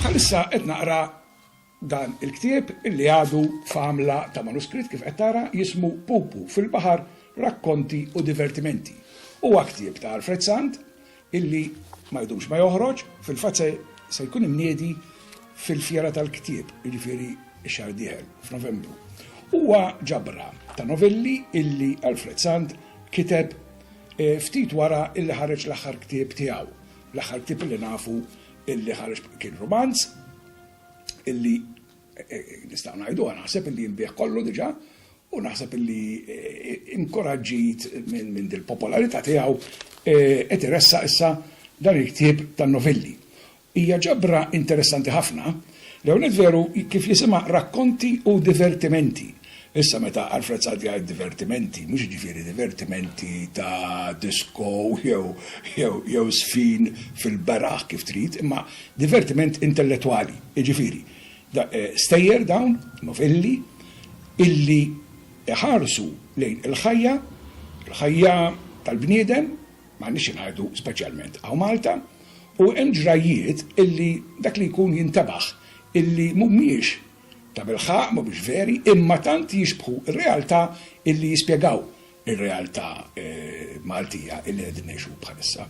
Bħalissa qed naqra dan il-ktieb illi għadu f'għamla ta' manuskritt kif qed tara jismu Pupu fil-baħar rakkonti u divertimenti. Huwa ktieb ta' Alfred Sant illi ma jdumx ma joħroġ fil-fatt se jkun imniedi fil-fjera tal-ktieb, jiġifieri x-xahar dieħel f'Novembru. Huwa ġabra ta' novelli illi Alfred Sant kiteb Ftit wara illi ħareġ l-aħħar ktieb tiegħu. L-aħħar ktieb illi nafu illi ħareġ kien rumanz illi nistgħu ngħiduha naħseb illi jinbiegħ kollu diġà u naħseb illi inkoraġġit minn dil-popolarità tiegħu qed iressaq issa dan il-ktieb tan-novelli. Hija ġabra interessanti ħafna. L-ewwel nett veru kif jisimha Rakkonti u Divertimenti. Issa meta Alfred Saad jgħid divertimenti, mhux jiġifieri divertimenti ta' disko jew żfin fil-beraħ kif trid, imma divertiment intellettwali, jiġifieri stejjer dawn, novelli, illi iħarsu lejn il-ħajja, il-ħajja tal-bniedem, M'għandniex xi ngħidu speċjalment hawn Malta u hemm ġrajjiet illi dak li jkun jintebaħ illi mhumiex tabilħaqq, mhumiex veri, imma tant jixbħu r-realtà illi jispjegaw ir-realtà Maltija illi qegħdin ngħixu bħalissa.